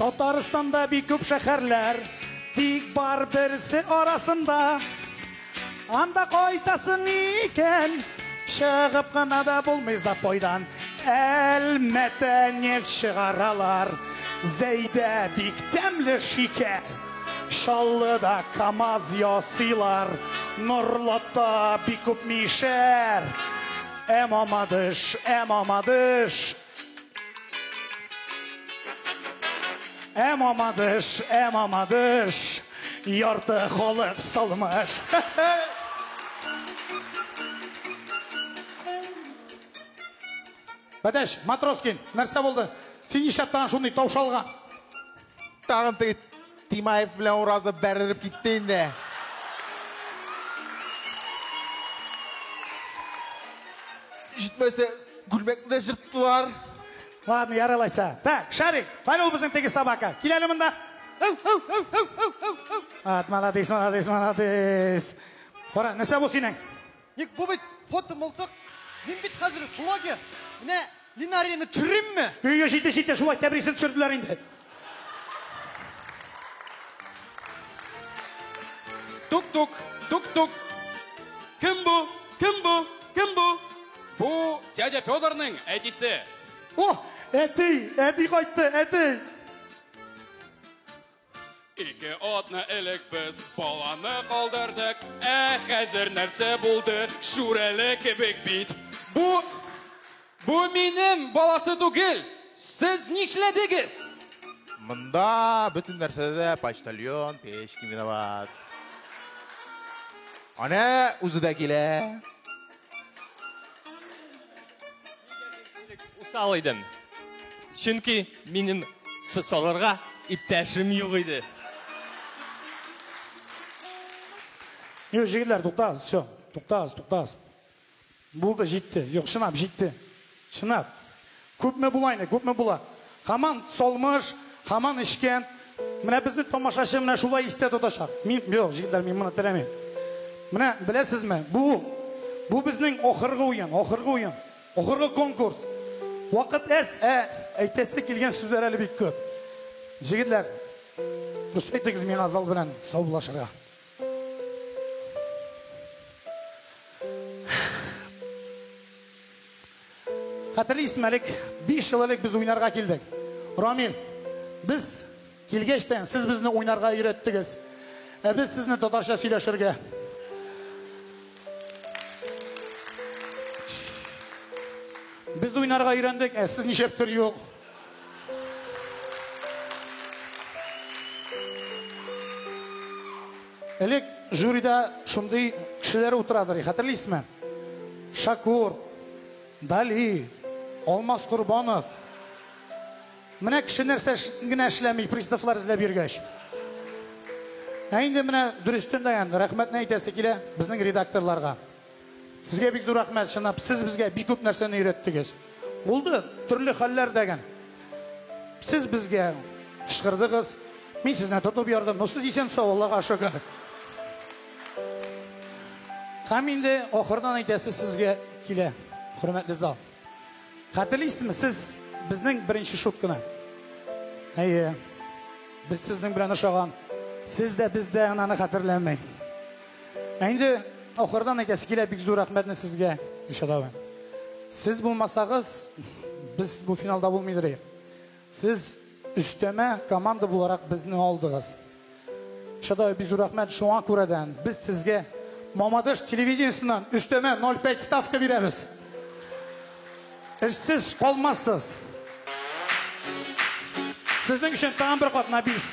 Татарстанда бик күп шәһәрләр, тик бар берсе арасында. Анда кайтасың икән, чыгып кына да булмый запойдан. Әлмәтә нефть чыгаралар, Зәйдә бик тәмле шикәр. Чаллыда КАМАЗ ясыйлар, Норлатта бик күп мишәр. Ә Мамадыш, ә Мамадыш, Ә мамадыш, ә мамадыш, ярты халык салмыш. Бәдәш, Матроскин, нәрсә булды? Син нишләп тагын шундый таушалган? Тагын теге Тимаев белән Уразов бәрелеп китте инде. Җитмәсә, күлмәкне дә жырттылар. Ладно, яралайса. Так, Шарик, кайда ул безнең теге собака? Кил әле монда. Ат, молодец, молодец, молодец. Кара, нәрсә бу синең? Ник бу бит фото мылтык. Мин бит хәзер блогер. Менә Линарияне төшеримме? Өйгә җитте җитте шулай тәбрисен төшерделәр инде. Тук-тук, тук-тук. Кем бу? Кем бу? Кем бу? Бу дядя Федорның әтисе. О, әти, әти кайтты, әти. Ике атны элек без баланы калдырдык, ә хәзер нәрсә булды? Шүрәле кебек бит. Бу бу минем баласы түгел. Сез нишләдегез? Монда бөтен нәрсәдә дә почтальон Печкин виноват. Ана үзе дә килә. Усал идем. Чөнки минем салырга иптәшем юк иде. Юк, җегетләр, туктагыз, все. Туктагыз, туктагыз. Булды, җитте. Юк, чынлап җитте. Чынлап. Күпме була инде, күпме була? Һаман салмыш, һаман эчкә. Менә безне тамашачы менә шулай истә тотачак. Мин, юк, җегетләр, мин моны теләмим. Менә беләсезме, бу, бу безнең ахыргы уен, ахыргы уен, ахыргы конкурс. Вакыт әз, ә әйтәсе килгән сүзләр әле бик күп. Җегетләр, дөрес әйтегез миңа зал белән саубуллашырга. Хәтерлисең әлек, биш ел элек без уйнарга килдек. Рамил, без килгәчтән сез безне уйнарга өйрәттегез. Ә без сезне татарча сөйләшергә. Без уйнарга өйрәндек, ә сез ничәптер юк. Элек жюрида шундый кешеләр утырадыр, хәтерлисезме? Шакур, Дали, Алмаз Корбанов. Менә кеше нәрсә генә эшләми, приставлар эзләп йөргәч. Ә инде менә дөрестен дә, рәхмәтне әйтәсе килә безнең редакторларга. Сезгә бик зур рәхмәт, чынлап, сез безгә бик күп нәрсәне өйрәттегез. Булды, төрле хәлләр дәгән. Сез безгә кычкырдыгыз, мин сезне тотып ярдым, но сез исән сау, Аллага шөкер. Һәм инде ахырдан әйтәсе сезгә килә, хөрмәтле зал. Хәтерлисезме, сез безнең беренче шутканы? Әйе. Без сезнең белән ошаган. Сез дә без дә ананы хәтерләмәй. Ә инде ахырдан әйтәсе килә бик зур рәхмәтне сезгә, Илшат абый. Сез булмасагыз, без бу финалда булмыйдыр идек. Сез өстәмә команда буларак безне алдыгыз. Шадай бизу рәхмәт шуңа күрәдән без сезгә Мамадыш телевидениесеннән өстәмә 0,5 ставка бирәбез. Эшсез калмассыз. Сезнең өчен тагын бер кат Набис.